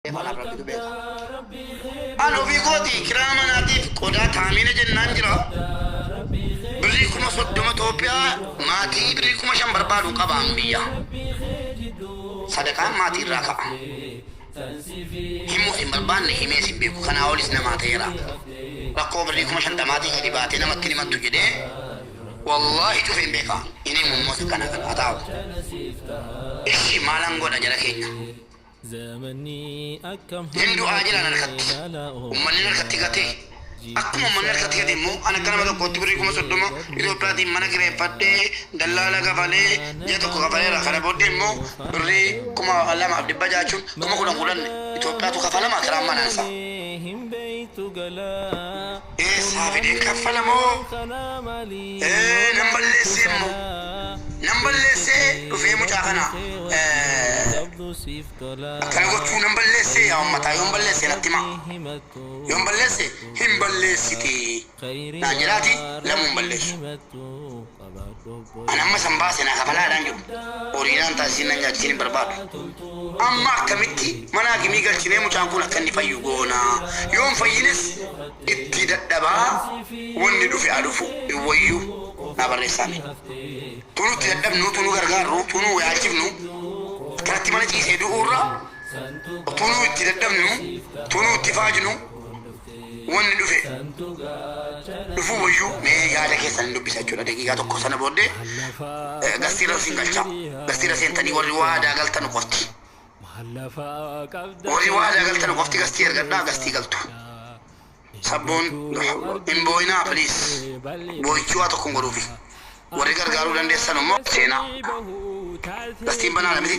Maal qabdaa rabbii kee biraa. An ofii kooti kiraa manaatiif qodaa taamiina jennaan jira birrii kuma soddoma toopiyaa maatii birrii kuma shan barbaadu qaba an biyya sadaqaan maatii irraa ka'a himuus hin barbaanne himees hin beeku kanaa olis namaa ta'eera rakkoo birrii kuma shantamaatii gadi baatee namatti hin himattu jedhee wallaahi cufe hin beeka hin himu immoo sakana kan haa taa'u ishi maalan godha jara keenya Hin du'aa jedhaan harkatti. Ummanni harkatti gate. Akkuma ummanni harkatti gate immoo an akka nama tokkootti birrii 30,000 Itoophiyaatiin mana kireeffadhee, dallaala kafalee, ji'a tokko kafaleera. Kana booddee immoo birrii 2600 jechuun kuma kudhan kudhan Itoophiyaatu kafalama kiraan manaasaa. Eessaa fideen kaffala moo nan balleessee immoo nan balleessee dhufee mucaa kana akkana gochuu nan balleessee yaa ummataa yoon balleessee natti himaa yoon balleessee hin balleessitee naan jedhaati lamuu hin balleessu. An amma san baase naa kafalaadhaan jiru. Horii naan taasisiin nan nyaachisiin hin barbaadu. Amma akkamitti mana hakimii galchinee mucaan kun akka inni fayyu goona? Yoo hin fayyines ittii dadhabaa wanni dhufe haa dhufu hin wayyu? Naa barreessaa mee. Tunuu itti dadhabnu, tunuu gargaarru, tunuu wayaalchifnu akkanatti mana ciisee du'uurra tunuu itti dadhabnu, tunuu itti faajnu, wanni dhufe dhufuu wayyuu mee yaada keessan hin dubbisa jechuudha daqiiqaa tokko sana booddee eh, gastiirra siin galcha gastiirra seentanii warri waadaa galtan qofti warri waadaa galtan qofti gastii ergadhaa gastii galtu sabboon hin booyinaa piliis booyichuu waa tokko hin godhuufi warri gargaaruu dandeessan immoo seenaa gastiin banaadha miti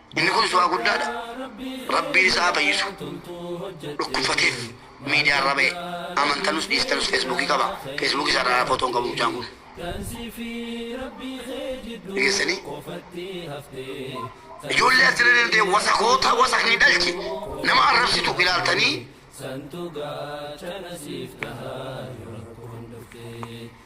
Inni kun su'aa guddaadha. Rabbiin isa haa fayyisu. Dhukkubfateef miidiyaa irra ba'e. Amantanus dhiistanus feesbuukii qaba. Feesbuukii isaa irraa footoo hin qabu mucaan kun. Dhageessanii? Ijoollee as jala deemtee wasakoota wasakni dhalche nama arrabsitu ilaaltanii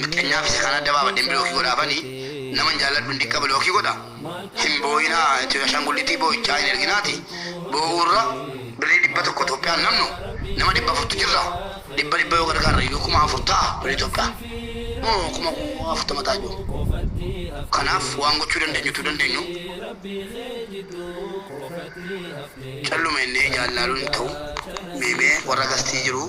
Miskiinaa fi seexana adda baafadheen bilookii godhaafani naman jaalladhu hin diqqa bilookii godha hin boo'inaa itti ashaangullittii boo'ichaa hin erginaati boo'uu irra birrii dhibba tokko Itoophiyaan namnu nama dhibba afurtu jirra dhibba dhibba yoo gargaarre iyyuu kuma afur ta'a birrii Itoophiyaa moo kuma afurtama ta'a iyyuu kanaaf waan gochuu dandeenyu utuu dandeenyu calluma jennee ijaan ilaaluun hin ta'u mee mee warra gastii jiruu.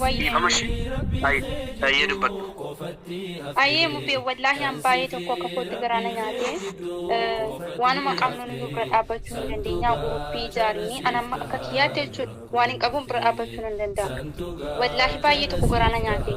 Wayyo. Dhiifama shi Hay tayyee dubbadhu. Ayii mubee wallahi an baayee tokko akka kootti garaa na nyaatee waanuma qabnuuniyyuu bira dhaabbachuu hin dandeenyaa gurupii ijaariinii an amma akka kiyyaatti jechuudha waan hin qabuun bira dhaabbachuu nan danda'a wallahi baayee tokko garaa na nyaatee.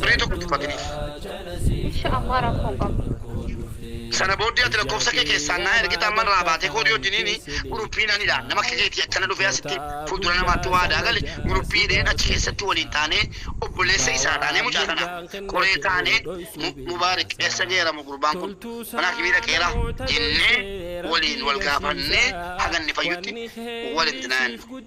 birrii tokko itti faginiif. Insha Allah rakkoo hin qabu. Sana booddee ati lakkoofsa kee keessaan naa ergita amman irraa baatee koodii wajjiniin guruppii nan hidha nama akka keetii akkana dhufee asitti fuuldura namaatti waadaa gale guruppii hidheen achi keessatti waliin taanee obboleessa isaa taanee mucaa kana qoree taanee Mubaarik eessa geera moo gurbaan kun mana hakimii dhaqeera jennee waliin wal gaafannee haga inni fayyutti walitti naannu.